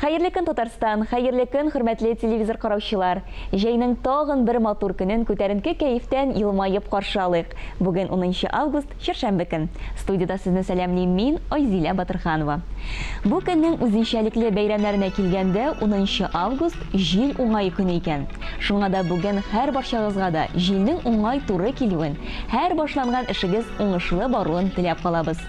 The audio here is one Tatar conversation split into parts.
Хәерле көн Татарстан, хәерле көн хөрмәтле телевизор караучылар! Җәйнең тагын бер матур көнен күтәренке кәефтән елмаеп каршы алыйк. Бүген унынчы август, чәршәмбе көн. Студиядә сезне сәламлим мин, Айзилә Батырханова. Бу көннең үзенчәлекле бәйрәмнәренә килгәндә, унынчы август, җил уңае көне икән. Шуңа да бүген һәрбарчагызга да җилнең уңай туры килүен, һәр башланган эшегез уңышлы баруын теләп калабыз.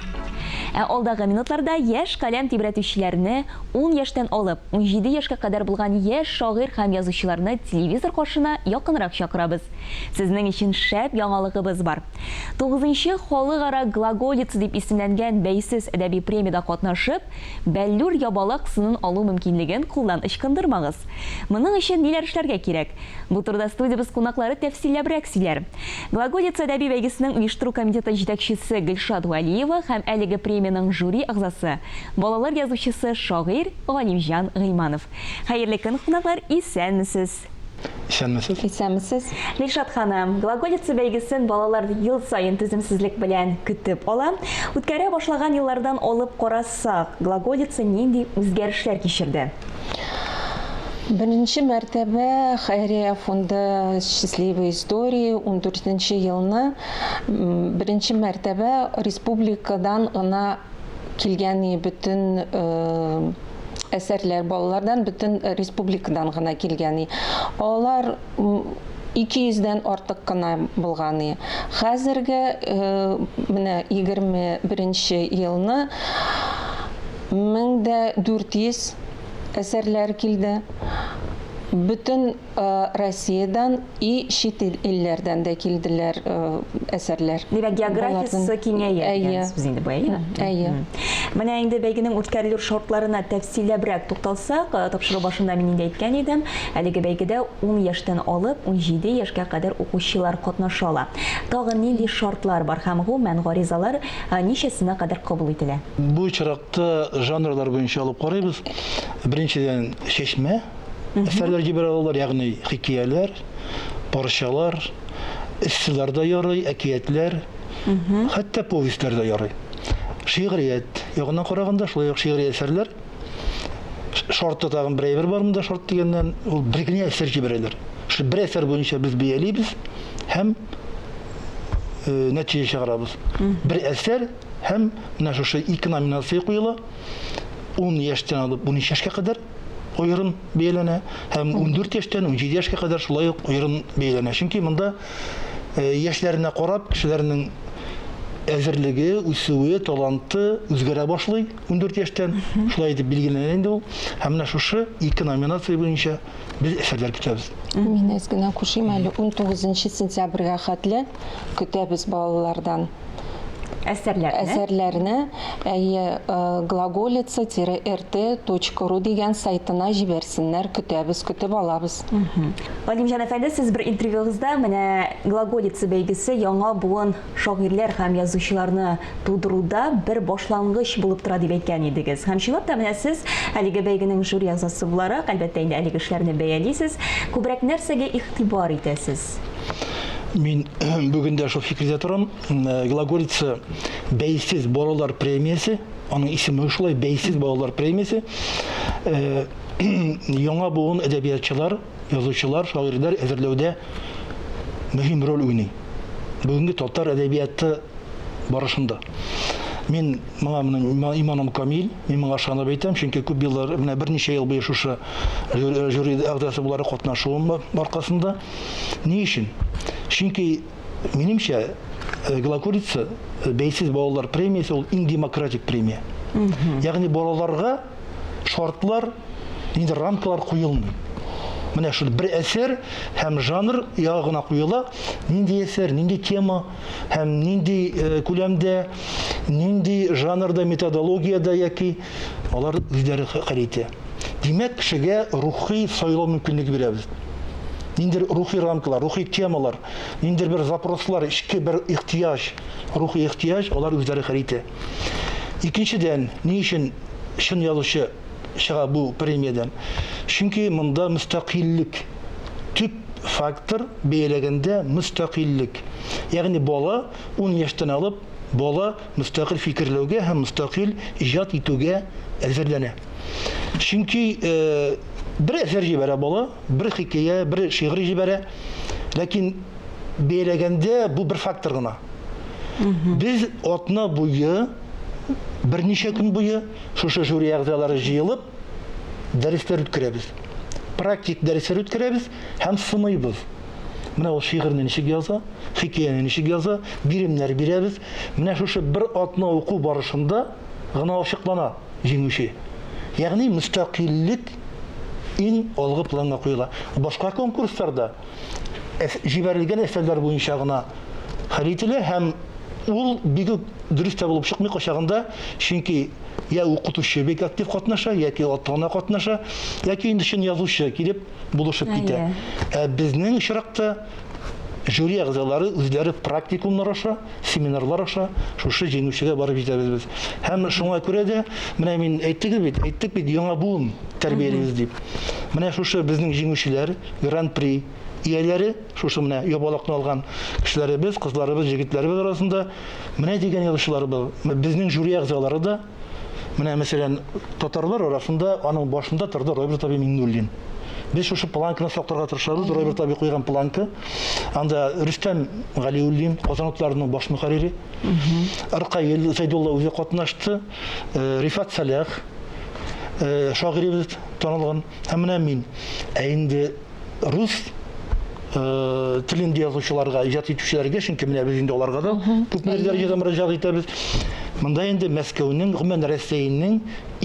Ә алдагы минутларда яшь каләм тибрәтүчеләрне, ун яшьтән алып, унҗиде яшькә кадәр булган яшь шагыйрь һәм язучыларны телевизор каршына якынрак чакырабыз. Сезнең өчен шәп яңалыгыбыз бар. Тугызынчы халыкара Глаголица дип исемләнгән бәйсез әдәби премиядә катнашып, Бәллүр ябалак сынын алу мөмкинлеген кулдан ычкындырмагыз. Моның өчен ниләр эшләргә кирәк? Бу турыда студиябез кунаклары тәфсилләбрәк сөйләр. Глаголица әдәби бәйгесенең оештыру комитеты җитәкчесе Гөлшат Вәлиева һәм әлеге премиянең жюри әгъзасы, балалар язучысы, шагыйрь Галимҗан Гыйльманов. Хәерле көн, кунаклар, исәнмесез! Исәнмесез! Исәнмесез! Гөлшат ханым, Глаголица бәйгесен балалар ел саен түземсезлек белән көтеп ала. Үткәрә башлаган еллардан алып карасак, Сак, глаголица нинди үзгәрешләр кичерде? Беренче мәртәбә Хәйрия фонды Счастливые истории ундүртенче елны беренче мәртәбә республикадан гына килгән бөтен әсәрләр балалардан бөтен республикадан гына килгән алар 200 дән артык кына булган и хәзерге менә 21 нче елны 1400 әсәрләр килде бөтен россиядән и чит илләрдән дә килделәр әсәрләр димәк географиясе киңәя дигән сүз инде бу әйе менә инде бәйгенең үткәрелү шартларына тәфсилләбрәк тукталсак тапшыру башында мин инде әйткән идем Әлеге бәйгедә ун яшьтән алып унҗиде яшькә кадәр укучылар катнаша ала. Тагын нинди шартлар бар һәм гу мән гаризалар ничәсенә кадәр кабул ителә? Бу очракта жанрлар буенча алып карыйбыз. Беренчедән, чәчмә әсәрләр җибәрә алалар, ягъни хикияләр, парчалар, эсселар да ярый, әкиятләр, хәтта повестьлар да ярый. Шигърият ягына караганда, шулай ук шигъри әсәрләр. шартта тагын бер әйбер бар монда шарт дигәннән, ул бер генә әсәр җибәрәләр. Шул бер әсәр буенча без бәялибез һәм э, нәтиҗә чыгарабыз. Бер әсәр һәм менә шушы ике номинация куела. 10 яшьтән алып 13 яшькә кадәр аерым бәяләнә һәм 14 яшьтән 17 яшькә кадәр шулай ук аерым бәяләнә. Чөнки монда э, яшьләренә карап кешеләрнең әзерлеге, үсүе, таланты үзгәрә башлый. 14 яшьтән шулай итеп билгеләнә инде ул. Һәм менә шушы ике номинация буенча без әсәрләр көтәбез. Мин әз генә кушыйм әле 19 сентябрьгә хәтле көтәбез балалардан әсәрләрне. Әсәрләрне әйе глаголица рт ру дигән сайтына җибәрсеннәр, көтәбез, көтеп алабыз. Вадим җан әфәнде, сез бер интервьюгызда менә глаголица бәйгесе яңа буын шагыйрьләр һәм язучыларны тудыруда бер башлангыч булып тора дип әйткән идегез. Һәм чынлап та менә сез әлеге бәйгенең жюри әгъзасы буларак, әлбәттә инде, әлеге эшләрне бәялисез. Күбрәк нәрсәгә игътибар итәсез? Мин бүген дә шул фикердә торам. Глаголица бәйсез балалар премиясе, аның исеме шулай, бәйсез балалар премиясе. Яңа буын әдәбиятчылар, язучылар, шагыйрьләр әзерләүдә мөһим роль уйный. Бүгенге татар әдәбияты барышында. Мин моңа моны иманым камил, мин моңа ышанып әйтәм, чөнки күп еллар, менә берничә ел буе шушы жюри әгъзасы буларак катнашуым аркасында. Ни өчен? Чөнки минемчә э, Глокурица э, бәйсез балалар премиясе ул иң демократик премия. Ягъни балаларга шартлар, нинди рамкалар куелмый. Менә шул бер әсәр һәм жанр ягына куела, нинди әсәр, нинди тема һәм нинди э, күләмдә, нинди жанрда, методологиядә яки алар үзләре хәл итә. Димәк, кешегә рухи сайлау мөмкинлеге бирәбез. Ниндер рухи рамкалар, рухи темалар, ниндер бер запрослар, эчке бер ихтияҗ, рухи ихтияҗ алар үзләре хәл итә. Икенчедән, ни өчен чын язучы чыга бу премиядән? Чөнки монда мөстәкыйльлек, төп фактор, бәяләгәндә мөстәкыйльлек. Ягъни бала, ун яшьтән алып, бала мөстәкыйль фикерләүгә һәм мөстәкыйль иҗат итүгә әзерләнә. Чөнки бер әсәр җибәрә бала, бер хикәя, бер шигырь җибәрә, ләкин, бәяләгәндә бу бер фактор гына. Без атна буе, берничә көн буе шушы жюри әгъзалары җыелып, дәресләр үткәрәбез. Практик дәресләр үткәрәбез һәм сыныйбыз. Менә ул шигырьне ничек яза, хикәяне ничек яза, биремнәр бирәбез. Менә шушы бер атна уку барышында гына ачыклана. җиңүче, ягъни мөстәкыйльлек иң алгы планга куела. Башка конкурсларда җибәрелгән әсәрләр буенча гына хәл ителә һәм ул бик үк дөрес тә булып чыкмый кайчагында, чөнки йә укытучы бик актив катнаша, яки ата-ана катнаша, яки инде чын язучы килеп булышып китә. Ә безнең очракта, Жюри әгъзалары үзләре практикумнар аша, семинарлар аша шушы җиңүчегә барып җитәбез без. Һәм шуңа күрә дә, менә мин әйттегез бит, әйттек бит, яңа буын тәрбиялибез дип. Менә шушы безнең җиңүчеләр, Гран-при ияләре, шушы менә ябалакны алган кешеләребез, кызларыбыз, җегетләребез арасында менә дигән язучыларыбыз, безнең жюри әгъзалары да, Менә, мәсәлән, татарлар арасында аның башында торды Роберт Аби Миннуллин. Без шушы планканы сакларга тырышабыз. Роберт Аби куйган планка. Анда Рөстәм Галиуллин, Казанотларның баш мөхәррире. Ркаил Зәйдулла үзе катнашты. Э, Рифат Салях, э, шагыйребез танылган. Һәм менә мин. Ә инде рус э, телендә язучыларга, иҗат итүчеләргә, чөнки менә без инде аларга да күп дәрәҗәдә мөрәҗәгать итәбез. Монда инде Мәскәүнең, гомумән Россиянең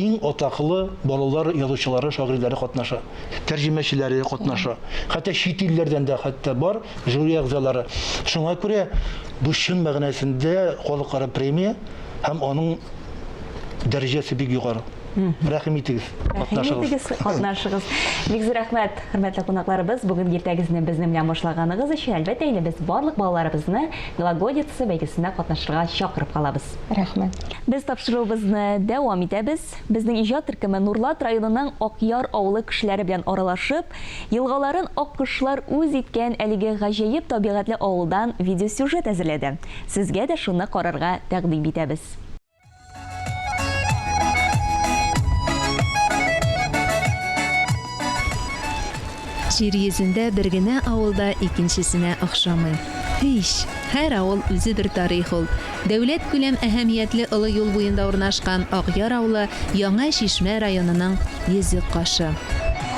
иң атаклы балалар язучылары, шагыйрьләре катнаша. Тәрҗемәчеләре катнаша. Хәтта чит илләрдән дә хәтта бар жюри әгъзалары. Шуңа күрә бу чын мәгънәсендә халыкара премия һәм аның дәрәҗәсе бик югары. Рәхим итегез, катнашыгыз. Катнашыгыз. Бик зур рәхмәт, хөрмәтле кунакларыбыз. Бүген иртәгезне безнең белән башлаганыгыз өчен, әлбәттә, инде без барлык балаларыбызны Глаголица бәйгесенә катнашырга чакырып калабыз. Рәхмәт. Без тапшыруыбызны дәвам итәбез. Безнең иҗат төркеме Нурлат районының Акъяр авылы кешеләре белән аралашып, елгаларын аккошлар үз иткән әлеге гаҗәеп табигатьле авылдан видеосюжет әзерләде. Сезгә дә шуны карарга тәкъдим итәбез. Җир йөзендә бер генә авыл да икенчесенә охшамый. Һич! Һәр авыл үзе бер тарих ул. Дәүләт күләм әһәмиятле олы юл буенда урнашкан Акъяр авылы Яңа Чишмә районының йөзек кашы.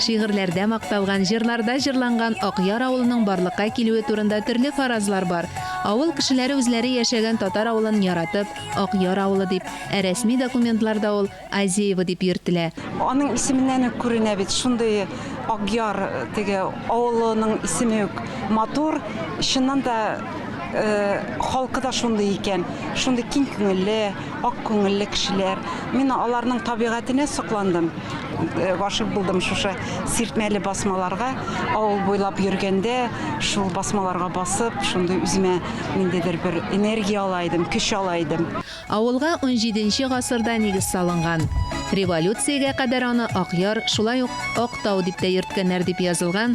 Шигырьләрдә макталган, җырларда җырланган Акъяр авылының барлыкка килүе турында төрле фаразлар бар. Авыл кешеләре үзләре яшәгән татар авылын яратып, Акъяр авылы дип, ә рәсми документларда ул Азеево дип йөртелә. Аның исеменнән үк күренә бит, шундый Акъяр теге авылының исеме үк матур. Чыннан да, халкы да шундый икән, шундый киң күңелле. Ак күңелле кешеләр. Мин аларның табигатенә сокландым. Э, гашыйк булдым шушы сиртмәле басмаларга. Авыл буйлап йөргәндә, шул басмаларга басып, шундый үземә ниндидер бер энергия ала идем, көч ала идем. Авылга 17 гасырда нигез салынган. Революциягә кадәр аны Акъяр, шулай ук Актау дип тә йөрткәннәр дип язылган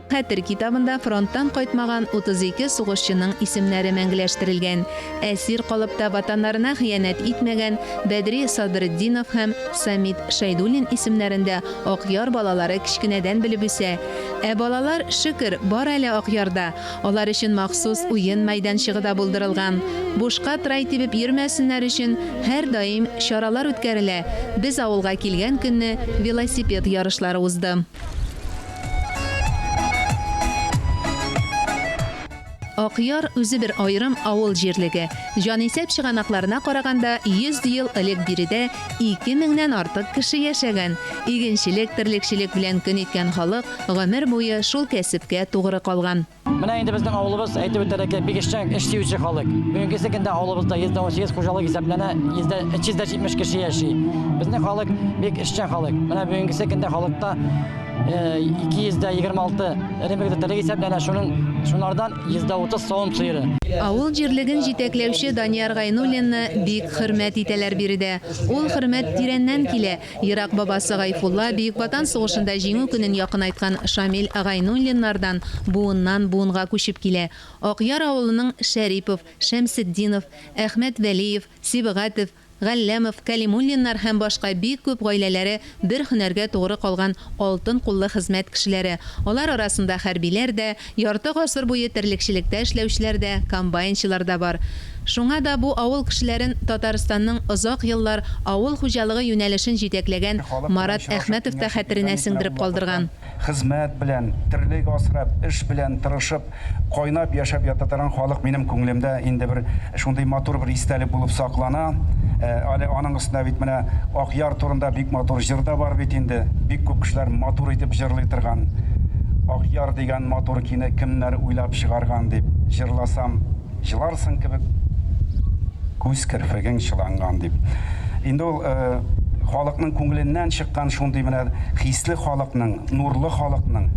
Хәтер китабында фронттан кайтмаган 32 сугышчының исемнәре мәңгеләштерелгән. Әсир калып та Ватаннарына хыянәт итмәгән Бәдри Садретдинов һәм Самит Шәйдуллин исемнәрен дә Акъяр балалары кечкенәдән белеп үсә. Ә балалар, шөкер, бар әле Акъярда. Алар өчен махсус уен мәйданчыгы да булдырылган. Бушка трай тибеп йөрмәсеннәр өчен һәрдаим чаралар үткәрелә. Без авылга килгән көнне велосипед ярышлары узды. Акъяр үзе бер аерым авыл җирлеге. Җанисәп чыганакларына караганда, 100 ел элек биредә 2000-нән артык кеше яшәгән. Игенчелек, терлекчелек белән көн иткән халык гомер буе шул кәсепкә тугры калган. Менә инде безнең авылыбыз әйтеп үтәргә кирәк, бик эшчән, эш сөюче халык. Бүгенге көндә авылыбызда 118 хуҗалык исәпләнә, 370 кеше яши. Безнең халык бик эшчән халык. Менә бүгенге көндә халыкта 226 э, эремек тәтәлек исәпләнә, шуның шунардан 130 савым сыеры. Авыл җирлеген җитәкләүче Данияр Гайнуллинны бик хөрмәт итәләр биредә. Ул хөрмәт тирәннән килә. Ерак бабасы Гайфулла, Бөек Ватан сугышында Җиңү көнен якынайткан Шамил Гайнуллиннардан буыннан буынга күчеп килә. Акъяр авылының Шәрипов, Шәмсетдинов, Әхмәт Вәлиев, Сибгатев, Галләмов, Кәлимуллиннар һәм башка бик күп гаиләләре бер һөнәргә тугры калган алтын куллы хезмәт кешеләре, алар арасында хәрбиләр дә, Ярты гасыр буе терлекчелектә эшләүчеләр дә, комбайнчылар да бар. Шуңа да бу авыл кешеләрен Татарстанның озак еллар авыл хуҗалыгы юнәлешен җитәкләгән Марат Әхмәтов та хәтеренә сеңдереп калдырган. Хезмәт белән, терлек асрап, эш белән тырышып, кайнап яшәп ята торган халык минем күңелемдә инде бер Шундый матур бер истәлек булып саклана. Ә әле аның өстенә бит менә Акъяр турында бик матур җыр да бар бит инде. Бик күп кешеләр матур итеп җырлый торган. Акъяр дигән матур кине кемнәр уйлап чыгарган дип җырласам, җыларсың кебек, күз керфегең чыланган дип. Инде ул халыкның күңеленнән чыккан шундый менә хисле халыкның, нурлы халыкның,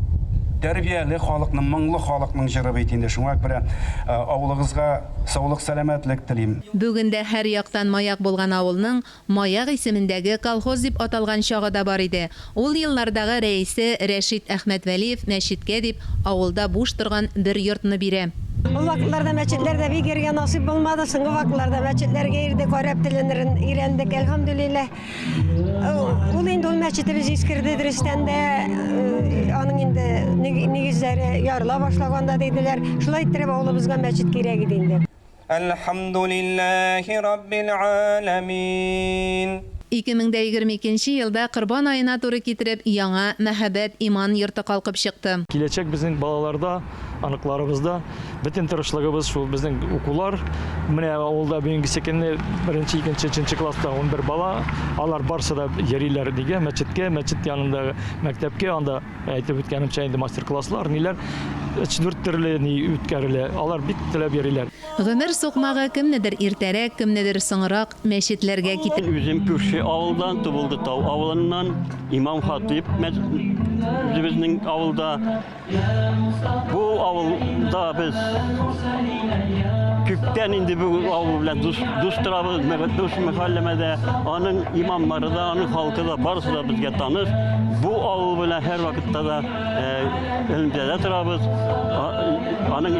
тәрбияле халыкның, моңлы халыкның җыры бит инде. Шуңа күрә Авылыгызга саулык сәламәтлек телим. Бүген дә һәр яктан маяк булган авылның Маяк исемендәге колхоз дип аталган чагы да бар иде. Ул еллардагы рәисе Рәшит Әхмәтвәлиев мәчеткә дип авылда буш торган бер йортны бирә. Ул вакытларда мәчетләр дә бик йөрергә насыйп булмады, соңгы вакытларда мәчетләргә йөрдек, гарәп телен өйрәндек, әлхәмдүлилләһ. Ул инде ул мәчете без искерде дөрестән дә, аның инде нигезләре ярыла башлаганда диделәр. Шулай иттереп авылыбызга мәчет кирәк иде инде. Әлхәмдүлилләһи раббил аламин. 2022 елда Корбан аена туры китереп, яңа Мәһабәт иман йорты калкып чыкты. Киләчәк безнең балаларда. Аныкларыбызда бөтен тырышлыгыбыз шул безнең укулар. Менә авылда бүгенге секенне беренче, икенче, өченче класста 11 бала. Алар барсы да йөриләр диге мәчеткә, мәчет янында мәктәпкә, анда әйтеп үткәнемчә инде мастер-класслар, ниләр өч дүрт төрле ни үткәрелә. Алар бик теләп йөриләр. Гомер сукмагы кемнедер иртәрәк, кемнедер соңрак мәчетләргә китә. Үзем күрше авылдан, Тубылды Тау авылыннан, имам-хатыйп үзебезнең авылда. Бу авылда без күптән инде бу авыл белән дус, дус торабыз, дус мәхәлләмәдә. Аның имамнары да, аның халкы да барысы да безгә таныш. Бу авыл белән һәр вакытта да элемтәдә торабыз. Аның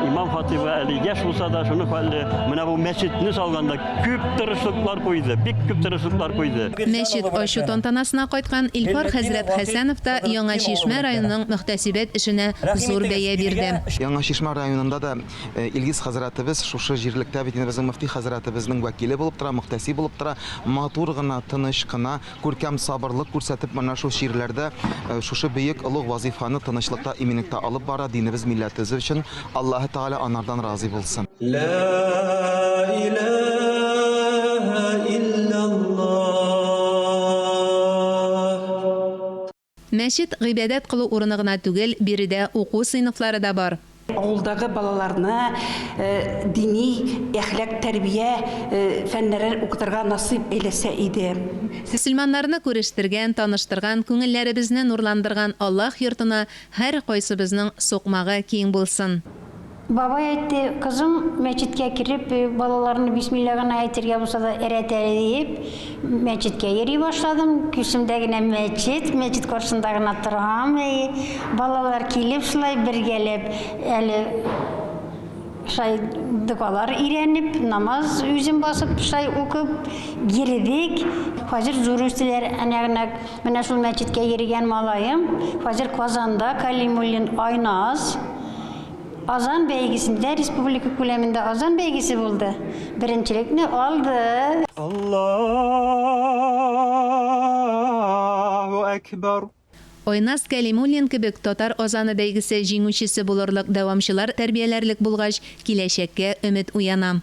имам хатибы әле яшь булса да, шуны хәлле. Менә бу мәчетне салганда Күп тырышлыклар куйды, бик күп тырышлыклар куйды. Мәчет ачу тантанасына кайткан Илфар хәзрәт Хәсәнов та Яңа Чишмә районының мөхтәсибәт эшенә зур бәя бирде. Яңа Чишмә районында да Илгиз хәзрәтебез шушы җирлектә бит инде безнең мөфти хәзрәтебезнең вәкиле булып тора, мөхтәсиб булып тора. Матур гына, тыныч кына. Күркәм сабырлык күрсәтеп, менә шул чирләрдә шушы бөек олуг вазифаны тынычлыкта, иминлектә алып бара, динебез, милләтебез өчен. Аллаһы Тәгалә анардан разый булсын. Мәчет, гыйбадәт кылу урыны гына түгел, биредә уку сыйныфлары да бар. Авылдагы балаларны дини, әхлак, тәрбия фәннәрен укытырга насыйп әйләсә иде. Мөселманнарны күрештергән, таныштырган, күңелләребезне нурландырган Аллаһ йортына һәркайсыбызның сукмагы киң булсын! Бабай әйтте, кызым, мәчеткә кереп, балаларны бисмилла гына әйтергә булса да өйрәт әле диеп, мәчеткә йөри башладым. Күсемдә генә мәчет, мәчет каршында гына торам. Әйе, балалар килеп шулай бергәләп әле шай догалар өйрәнеп, намаз үзем басып шай укып йөрдек. Хәзер зур үстеләр, әнә-генәк менә шул мәчеткә йөргән малаем, хәзер Казанда Калимуллин Айназ. Азан бәйгесендә республика күләмендә Азан бәйгесе булды. Беренчелекне алды. Аллаһу әкбар. Айназ Кәлимуллин кебек Татар Азаны бәйгесе җиңүчесе булырлык дәвамчылар тәрбияләрлек булгач, киләчәккә өмет уяна.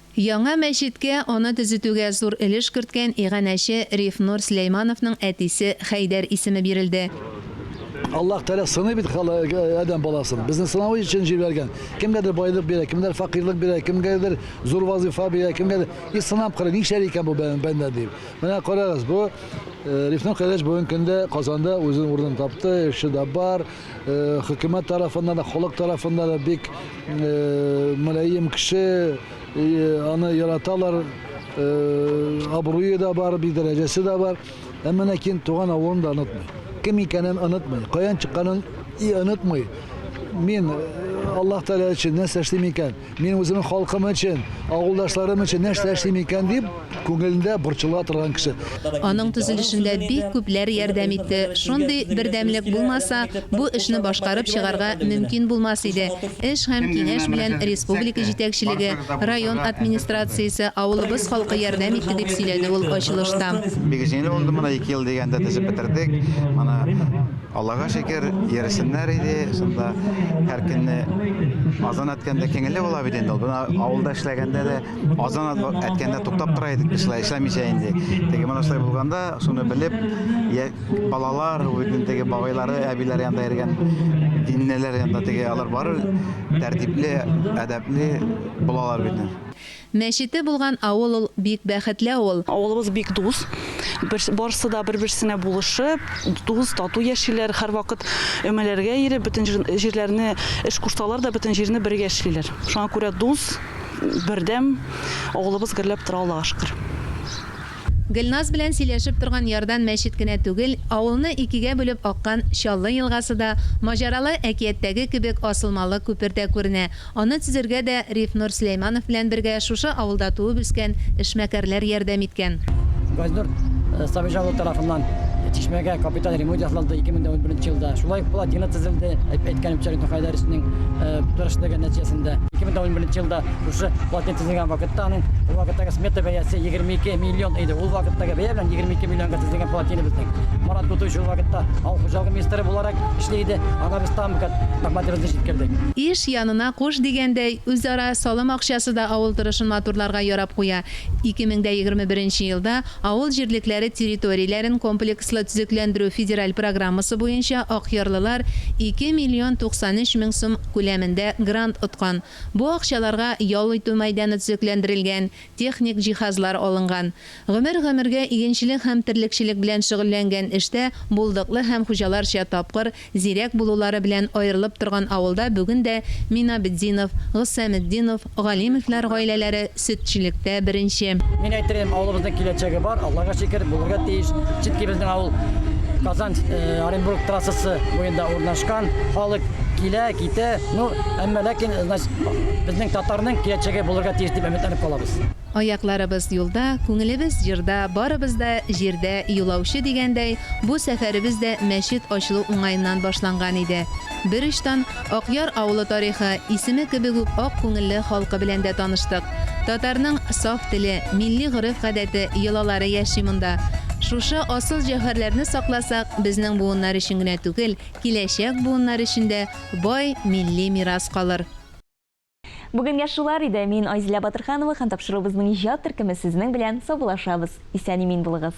Яңа мәчеткә, аны төзетүгә зур өлеш керткән иганәче Рифнур Сөләймановның әтисе Хәйдәр исеме бирелде. Аллаһ Тәгалә сыный бит адәм баласын. Безне сынау өчен җибәргән. Кемгәдер байлык бирә, кемнәр факыйрлык бирә, кемгәдер зур вазыйфа бирә, кемгәдер. И сынап кара, нишләр икән бу бәндә дип. Менә карагыз, бу Рифнур кардәш бүгенге көндә Казанда үзенең урынын тапты, эше дә бар. хөкүмәт тарафыннан да, халык тарафыннан да бик мөлаем кеше, аны яраталар, абруе да бар, бик дәрәҗәсе дә бар. Әмма ләкин туган авылын да онытмый. Кем икәнен онытмый, каян чыкканын и онытмый. Мин Аллаһ Тәгалә өчен нәрсә эшлим икән? Мин үземнең халкым өчен, авылдашларым өчен нәрсә эшлим икән дип, күңелендә борчыла торган кеше. Аның төзелешендә бик күпләр ярдәм итте. Шундый бердәмлек булмаса, бу эшне башкарып чыгарга мөмкин булмас иде. Эш һәм киңәш белән республика җитәкчелеге, район администрациясе, авылыбыз халкы ярдәм итте, дип сөйләде ул ачылышта. Бик җиңел булды, менә ике ел дигәндә төзеп бетердек. Моны. Аллага шөкер, йөрсеннәр иде, шунда һәр көнне азан әткәндә кеңелле була бит инде ул. Бына авылда эшләгәндә дә азан әткәндә туктап тора идек без шулай эшләмичә инде. Теге менә шулай булганда, шуны белеп, я балалар, үзенең теге бабайлары, әбиләре янында йөргән диннеләр янында теге алар барыр тәртипле, әдәпле булалар бит. Мәчете булган авыл ул, бик бәхетле авыл. Авылыбыз бик дус, барсы да бер-берсенә булышып, дус, тату яшиләр, һәрвакыт өмәләргә ияреп, бөтен җирләрне, эш кушсалар да, бөтен җирне бергә эшлиләр. Шуңа күрә дус, бердәм авылыбыз гөрләп тора, Аллага шөкер. Гөлназ белән сөйләшеп торган ярдан мәчет кенә түгел, авылны икегә бүлеп аккан Чаллы елгасы да, маҗаралы әкияттәге кебек асылмалы күпер дә күренә. Аны төзергә дә Рифнур Сөләйманов белән бергә шушы авылда туып-үскән эшмәкәрләр ярдәм иткән. Газнур Сабирҗан улы тарафыннан чишмәгә капиталь ремонт ясалды 2011 елда. Шулай ук плотина төзелде, әйткәнемчә, Рифнур Хәйдәровичның тырышлыгы нәтиҗәсендә. 2011 елда шушы плотина төзелде. төзелгән вакытта аның ул вакыттагы смета бәясе 22 миллион иде. Ул вакыттагы бәя белән 22 миллионга төзелгән плотина безнең. Марат Бутович ул вакытта авыл хуҗалыгы министры буларак эшли иде. Ана без там мәгълүматларыбызны җиткердек. Иш янына куш дигәндәй, үзара салым акчасы да авыл торышын матурларга ярап куя. 2021 елда авыл җирлекләре территорияләрен комплекслы төзекләндерү федераль программасы буенча акъярлылар 2 миллион 93 мең сум күләмендә грант откан. Бу акчаларга ял итү мәйданы төзекләндерелгән, техник җиһазлар алынган. Гомер-гомергә игенчелек һәм терлекчелек белән шөгыльләнгән эштә булдыклы һәм хуҗаларча тапкыр, зирәк булулары белән аерылып торган авылда бүген дә Минабетдинов, Гыссаметдинов, Галимовлар гаиләләре сөтчелектә беренче. Мин әйтер идем, авылыбызның киләчәге бар, Аллага шөкер, булырга тиеш. Чөнки безнең авыл Казан, Оренбург трассасы буенда урнашкан. Халык килә, китә. Ну, әмма ләкин, значит, безнең татарның киләчәге булырга тиеш дип өметләнеп калабыз. Аякларыбыз юлда, күңелебез җырда, барыбыз да җирдә юлаучы дигәндәй, бу сәфәребез дә мәчет ачылу уңаеннан башланган иде. Бер очтан, Акъяр авылы тарихы, исеме кебек үк ак күңелле халкы белән дә таныштык. Татарның саф теле, милли гореф-гадәте, йолалары яши монда. Шушы асыл җәүһәрләрне сакласак, безнең буыннар өчен генә түгел, киләчәк буыннар өчен дә бай милли мирас калыр. Бүгенгә шулар иде. Мин Айзилә Батырханова һәм тапшыруыбызның иҗат төркеме сезнең белән саубуллашабыз. Исән-имин булыгыз!